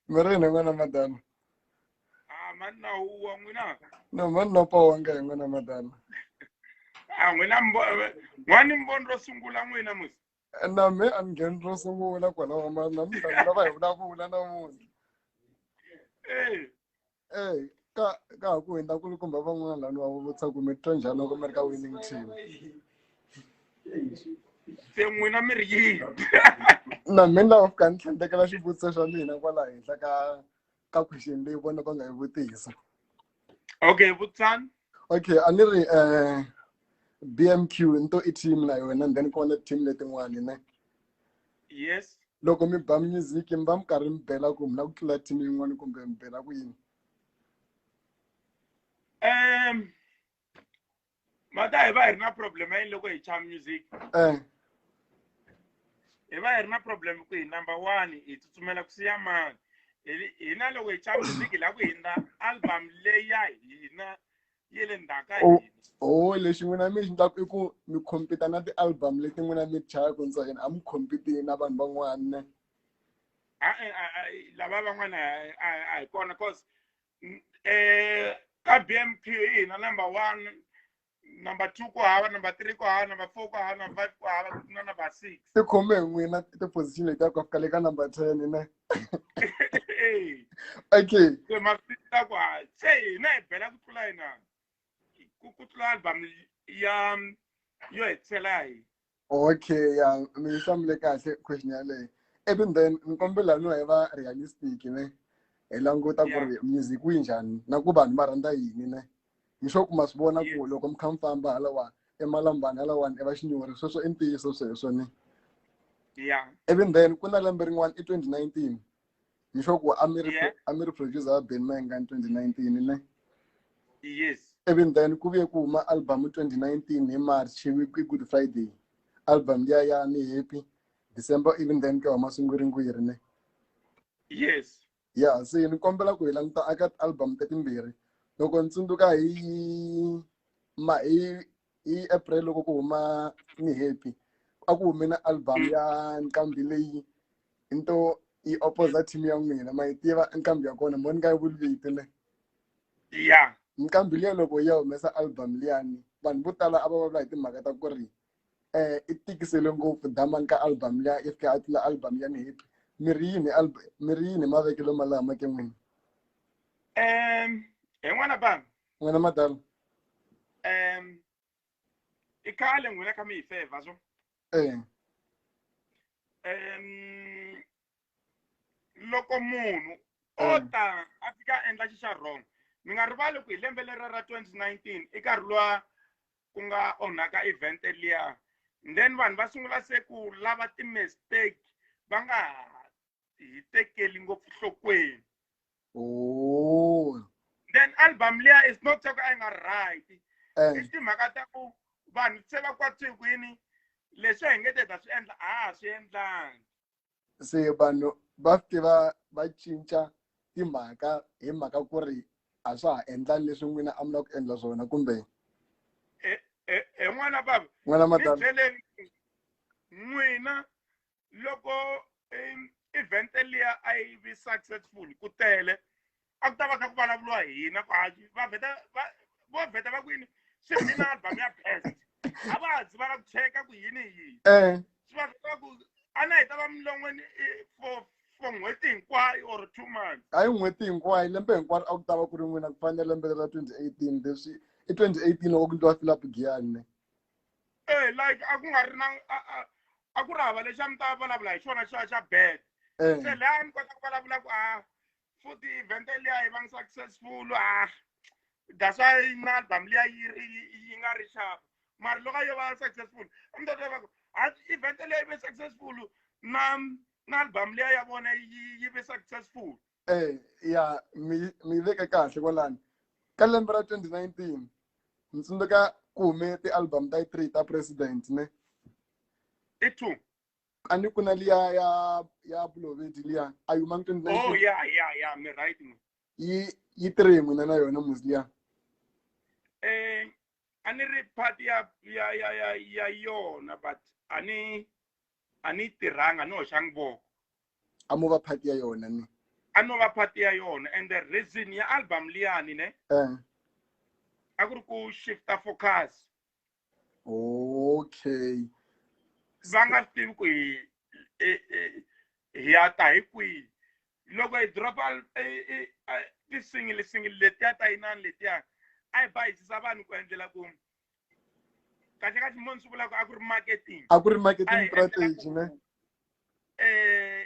mi ri yini n'wana madana a mani na huwa n'wina no mani no powanga hi n'wana madana a n'wina n'wani mboni ro sungula n'wina musi na me a ni ngheni ro sungula kwalaho mani namuntlha ni lava hi vulavula namuntlha eyi ka ka ha ku hundza kulukumba van'wana laniwa va vutisa ku mi titwa njhani loko mi ri ka winning team se n'wina mi ri yini na mina lava fika ni tlhandlekela xivutiso xa mina kwala henhla ka ka question leyi vona va nga yi vutisa okay vutsani okay a ni ri um b m q ni to i team na yona then ku va na team letin'wani ne yes loko mi ba music mi va mi karhi mi bela ku mi la ku tlula team yin'wana kumbe mi bela ku yini um mata hi va hi ri na problem ya yini loko hi cha music eh hi va hi ri na problem ku hi number one hi tsutsumela ku siya mani Hi- hina loko hi cha music hi la ku hindza album leyi ya hina yi le ndzhaka Oh. yini Oh, lexi n'wina mi xi endlaku i ku mi compete na ti-album leti n'wina mi ti chayaka ndza yena a mi compete na vanhu van'wana Ah, eh, ah, ah, lava van'wana a- a- a hi kona cause mm, eh, ka bmq hi hina number one number two ku hava number three ku hava number four ku hava number five ku hava ku na number six ti khome hi n'wina ti-position leti ya ku fika le ka number ten ne okay se masita ku ha se hina hi bela ku tlula hina ku ku tlula album ya yo hetisela hi okay ya mi hlamule kahle question yaleyo even then ni kombela no hi va realistic ne hi languta ku ri music wu njhani na ku vanhu va rhandza yini ne mi swa ku ma swi vona ku loko mi kha mi famba halawani emalambani halawani i va xinyori sweswo i ntiyiso sweswo ni yeah even then ku na lembe rin'wana i 2019 mi sure ku a mi ri Yeah. a mi ri producer wa Ben Menga ni 2019 ne yes even then ku vuye ku huma album 2019 hi March hi week- hi Good Friday album liya ya ni happy December even then ku ya huma swingwiringwiri ne yes ya se ni kombela ku hi languta eka ti-album ta timbirhi loko ni tsundzuka hi ma hi hi april loko ku huma ni happy a ku hume na album ya nqambi leyi into yi opposa team ya n'wina ma yi tiva nqambi ya kona mo ni nga yi vuli vito ne ya nqambi liya loko yi ya humesa album liyani vanhu vo tala a va vulavula hi timhaka ta ku ri eh i tikisele ngopfu dama ka album liya i fika a tlula album ya ni hit mi ri yini album mi ri yini mavekelo malama ke n'wini um hi n'wana bam n'wina madala um i khale n'wina ka mi hi feva so eh um loko munhu o Mm. ta a fika a endla xi xa wrong mi nga rivali ku hi lembe lera ra 2019 i nkarhi lowa ku nga onhaka event liya then vanhu va sungula se ku lava ti-mistake va nga hi tekeli ngopfu nhlokweni oh. then album liya is not soko a yi nga right eh. i timhaka ta ku vanhu se va kwatswikwini leswi hi nge te ta swi endla a ha swi endlangi se vanhu va fike va va cinca timhaka hi mhaka ku ri a swa ha endlani leswi n'wina a mi la ku endla swona kumbe e, e, e n'wana bava n'wana mabyeleni n'wina loko event liya a yi vi successful ku tele a ku ta va kha ku vulavuriwa hina kwati va vheta va vo vheta va kwini swi ri na album ya best a va ha dzi va la ku cheka ku yini hi yini eh. swi va vheta ku a na hi ta va milon'weni for for n'hweti hinkwayo or two months a hi n'hweti hinkwayo lembe hinkwaro a ku ta va ku ri n'wina ku fanele lembe ra twenty eighteen leswi i twenty eighteen loko ku ndliwa philip giyanne e eh, like a ku nga ri na a ku ri hava lexi a mi ta vulavula hi xona xa xa bed eh. se laha ni kota ku vulavula ku a ah, futhi event liya yi va ngi successful ah that's why na album liya yi yi nga ri xava mara loko yo va successful a mi ta twa va ku event liya yi ve successful na na album liya ya vona yi yi ve successful eh ya mi mi veke kahle kwalani ka lembe ra 2019 ni tsundzuka ku hume ti-album ta yi three ta president ne i two a ni ku na liya ya ya bulovedi liya a yi huma ni oh ya ya ya mi right mi yi yi tirhe hi n'wina na yona muzi liya um a ni ri part ya ya ya ya ya yona but a ni a ni tirhanga ni hoxangi voko a mo va part ya yona ni a no va part ya yona and the reason ya album liyani ne um a ku ri ku shifta focus okay va nga swi tivi ku hi hi ya ta hi kwihi loko hi dropa tisingilisingili letiya ta yinani letiya a hi bayisisa vanhu ku endlela ku kahle kahle munhu swi vulaka a ku ri marketing a ku ri marketing strategy ne um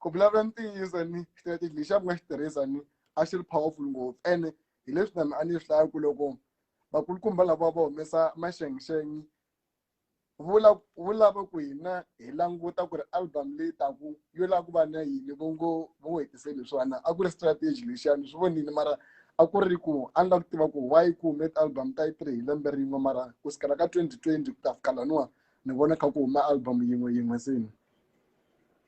ku vulavula ntiyiso ni strategy lexi a ku nga xi tirhisa ni a xi ri powerful ngopfu ene hi leswi na mina a ni swi hlaya ku loko vakulukumba lava va humesa maxengixengi vula wu lava ku hina hi languta ku ri album leyi taku yo lava ku va na yini vo ngo vo ngo hetiseli hi swona a ku ri strategy lexiya ni swi vonile mara a ku ri ku a ni lava ku tiva ku why ku hume ti-album ta yi three hi lembe rin'we mara ku sukela ka twenty twenty ku ta fika laniwa ni vona kha ku huma album yin'we yin'we se ni.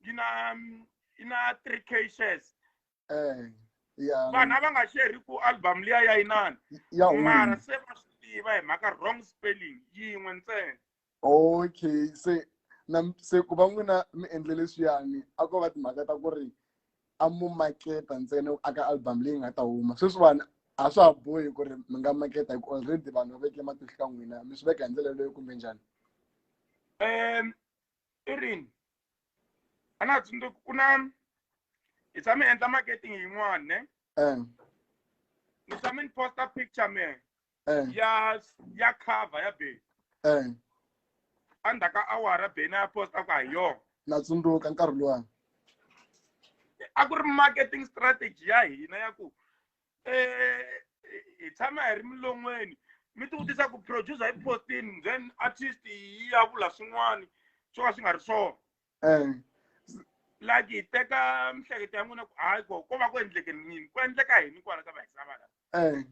yi na mm, yi na three k shares eh ya vanhu a va nga sheri ku album liya ya inani ya home. mara se va swi tiva hi mhaka wrong spelling yin'we ntsena okay se na se ku va n'wina mi endle leswiyani a ko va timhaka ta ku ri a mu maketa ntsena aka album leyi nga ta huma sweswiwani a swa ha bohi ku ri mi nga maketa hi ku already vanhu va veke matihlo ka n'wina mi swi veka hi ndlela yeleyo kumbe njhani um i rini a na ha tsundzuki ku na hi tshame endla marketing yin'wana ne eh. ni tshame ni posta picture me eh. ya ya cover ya beni eh. endzhaku ka awara beni a posta ku ha yona na tsundzuka nkarhi luwani a ku ri marketing strategy ya hina ya ku eh, hi tshama hi ri milon'weni mi ti vutisa ku producer hi postin then artist yi ya vula swin'wana swo ka swi nga ri swona eh. like hi teka mihleketo ya n'wina ku hayi ko ko va ku endleke nini ku endleka yini kwala ka vahisava la eh.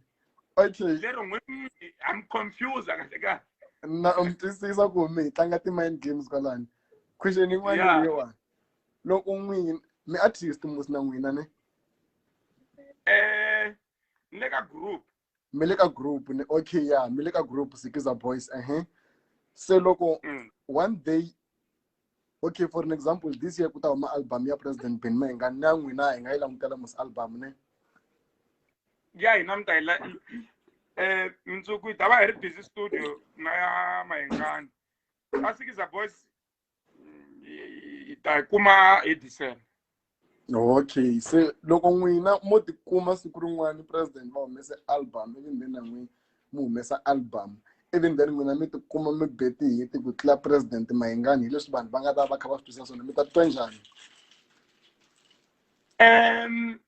okay lero n'wini i'm confused kahle kahle na u mi twisisa ku mi hi tlanga ti-mind games kwalani question yin'wana leyiwani loko n'wini mi artist musi na n'wina ne eh ni le ka group mi le ka group ni okay ya mi le ka group sikiza boys ehe se loko Mm. one day okay for an example this year ku ta huma album ya president ben ma hi nga na n'wina hi nga yi langutela mos album ne ya hina mi ta yi la eh mundzuku hi ta va hi ri busy studio na ya mahengani va sikiza boys hi ta yi kuma hi december okay se loko n'wina mo tikuma siku rin'wana president va humese album ivi then na n'wina mi humesa album ivi then n'wina mi tikuma mi beti hiti ku tlula president mahingani hi leswi vanhu va nga ta va kha va swi twisisa swona mi ta titwa njhani um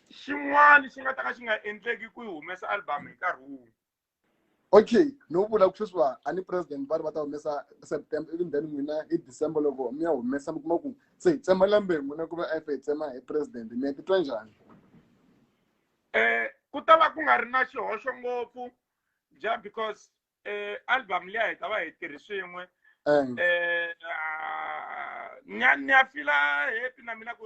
xin'wana xi nga ta ka xi nga endleki ku yi humesa album hi nkarhi wun'we okay no vula ku sweswiwa a ni president va ri va ta humesa september even then n'wina hi december loko mi ya humesa mi kuma ku se hi tsema lembe n'wina ku va efe hi tsema hi president mi ya titwa njhani um ku ta va ku nga ri na xihoxo ngopfu ja because um album liya hi ta va hi tirhi swin'we um ni ya fila happy na mina ku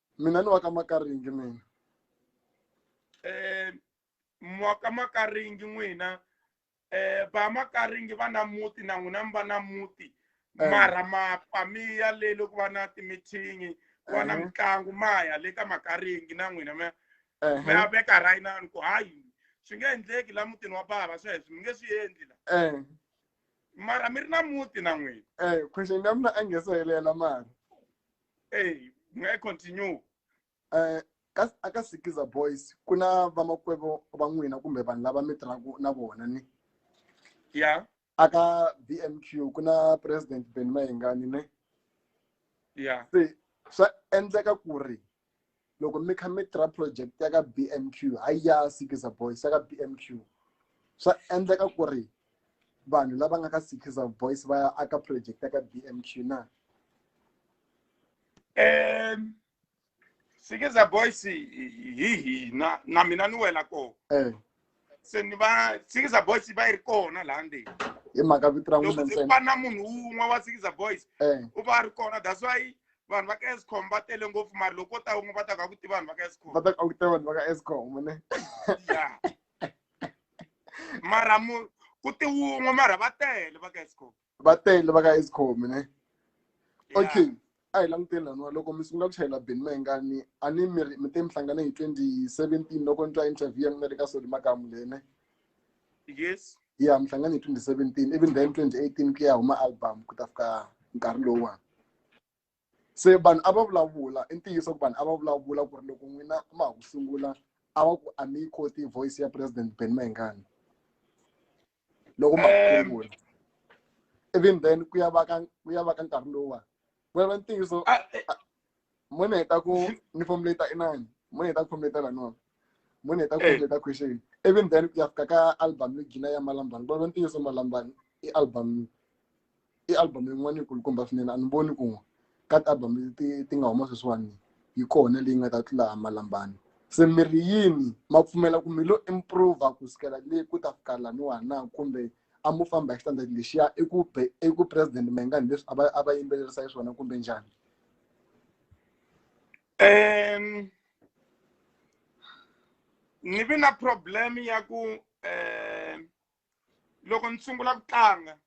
mina ni wa ka makaringi mina um mwa ka makaringi n'wina um va makaringi va na muti na n'wina mi va na muti Eh. mara mapamiya le loko va na timithingi ku va na Ehe. mitlangu maya le ka makaringi na n'wina mi Ehe, mi ya veka rayinani ku hayi swi nge endleki la mutini wa bava sweswo mi nge swi endli la eh, mara mi ri na muti na n'wina eh, question ya mina a nge se helela mara eyi u nga yi continue um ka aka sikiza boys ku na vamakwavo va n'wina kumbe vanhu lava mi tirhaka na vona ni ya aka b m q ku na president ben mayengani ne ya se swa endleka ku ri loko mi kha mi tirha project ya ka bmq hayi ya sikiza boys ya ka bmq swa endleka ku ri vanhu lava nga ka sikiza boys va ya aka project ya ka bmq na um sikiza boys hi hina na mina ni wela kona eh. se ni va sikiza boys va yi ri kona laha ndzeni hi mhaka vito ra n'wina ntsena va na munhu wun'we wa sikiza boys eh. u va a ri kona that's why vanhu va ka escom va tele ngopfu mari loko ko ta wun'we va ta ka ku tiva vanhu va ka escom va ta ka ku tiva vanhu va ka escom ne ya mara mu ku ti wun'we mara va tele va ka escom va tele va ka escom ne okay a hi languteni laniwa loko mi sungula ku chayela beni mayengani a ni mi mi te mi hlangane hi twenty seventeen loko ni twa interview ya mina le ka soli makamu lene yes ya mi hlangane hi twenty seventeen even then twenty eighteen ku ya huma album ku ta fika nkarhi lowuwani se vanhu a va vulavula i ntiyiso ku vanhu a va vulavula ku ri loko n'wina ma ha ku sungula a va ku a mi yi koti voice ya president ben mayengani loko ma sungula even then ku ya va ka ku ya va ka nkarhi lowuwa ku ya va ntiyiso mo ni heta ku ni fomuleta inani mo ni heta ku fomuleta lanona mo ni heta ku fomuleta question even then ku ya fika ka album yo gina ya malambani ku ya va ntiyiso malambani i album i album yin'wana yikulukumba swinene a ni voni ku ka ti-album leti ti nga huma sweswiwani yi kona leyi nga ta tlula malambani se mi ri yini ma pfumela ku mi lo improve ku sukela le ku ta fika laniwa na kumbe a mo famba hi xitandati lexiya i ku be i ku president mengani leswi a va a va yimbelerisa hi swona kumbe njhani um ni vi na problem ya ku um loko ni sungula ku tlanga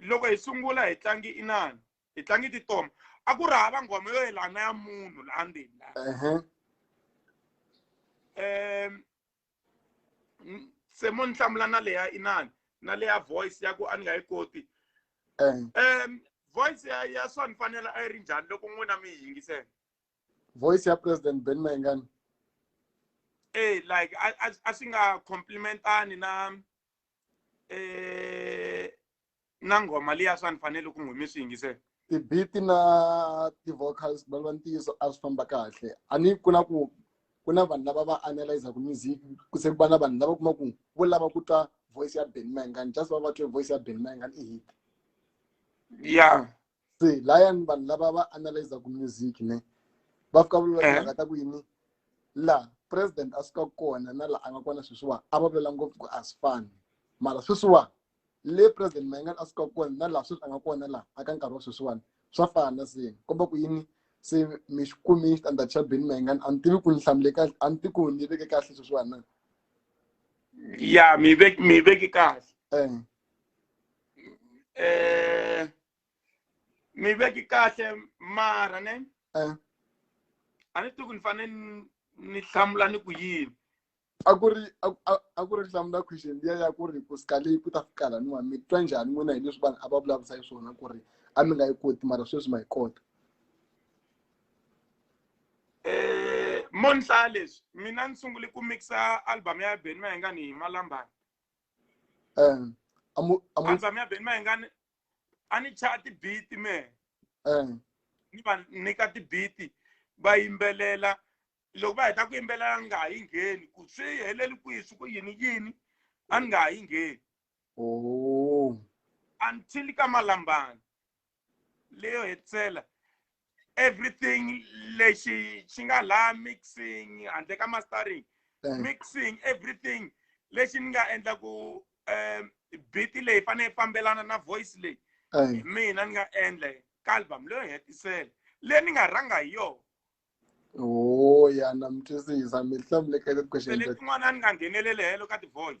loko hi sungula hi tlangi inani hi tlangi titoma a ku ri hava nghoma yo yelana ya munhu laha ndzeni laha um se mo ni hlamula na leya inani na leya voice ya ku a ni nga yi koti um voice ya ya swa ni fanela a yi ri njhani loko n'wina mi yi yingisela voice ya president ben mayengani e like a swi nga complimentani na eh na nghoma liya swa ni fanele ku n'wi mi swi yingisela ti-beat na ti-vocals va lwa ntiyiso a swi famba kahle a ni ku na ku ku na vanhu lava va analyzaka music ku se ku va na vanhu lava kuma ku vo lava ku twa voice ya ben mangan just va va twe voice ya ben mangan i hit ya se layani vanhu lava va analyzaku music ne va fika va vula timhaka ta ku yini laha president a suka kona na laha a nga kona sweswiwani a va vula ngopfu ku a swi fani mara sweswiwani le president mayengani a suka kona na laha sweswi a nga kona laha a ka nkarhi wa sweswiwani swa fana se komba ku yini se mi xi kumi xitandati xa beni mayengani a ni tivi ku ni hlamule kahle a ni ti ku ni veke kahle sweswiwani na ya mi veke mi veke kahle eh, mi veki kahle mara ne Eh. a ni tivi ku ni fanele ni- ni hlamula ni ku yini a ku ri a- a- a ku ri hlamula question liya ya ku ri ku sika leyi ku ta fika laniwa mi twa njhani n'wina hi leswi vanhu a va vulavurisa hi swona ku ri a mi nga yi koti mara sweswi ma yi kota Eh, mo ni hlaya leswi mina ni sungule ku mixa album ya ben mayengani hi malambani um amu amu anza mi ya beni ma ingani a ni chaya tibiti mehe um ni va nyika tibiti va yimbelela loko va heta ku yimbelela ni nga ha yi ngheni ku swi heleli kwihi swi ku yini yini a ni nga ha yi ngheni oh until ka malambani leyo hetisela everything lexi xi nga laha mixing handle ka mastering eh. mixing everything lexi ni nga endla ku um beat leyi fanele yi fambelana na voice leyi eh. hi mina ni nga endla ka album leyo hetisela leyi ni nga rhanga hi yona o ya na mi twisisa mi hlamulekele ku xeletin'wana ni nga nghenelele helo ka ti-voice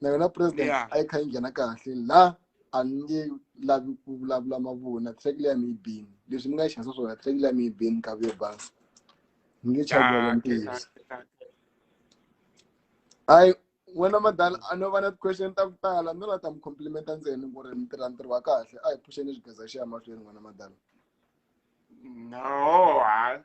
na yona president Yeah. a yi kha yi nghena kahle la a ni nge lavi ku vulavula mavunwa track leyi a mi yi bini leswi ni nga yi xanisa swona track leyi a mi yi bini nkavi yo basa ni nge chavelela ntiyiso hayi wena madala a no va na ti-question ta ku tala no la ta mi complimenta ntsena ku ri mi tirha ntirho wa kahle a hi phuxeni xigeza xi ya mahlweni n'wana madala no ha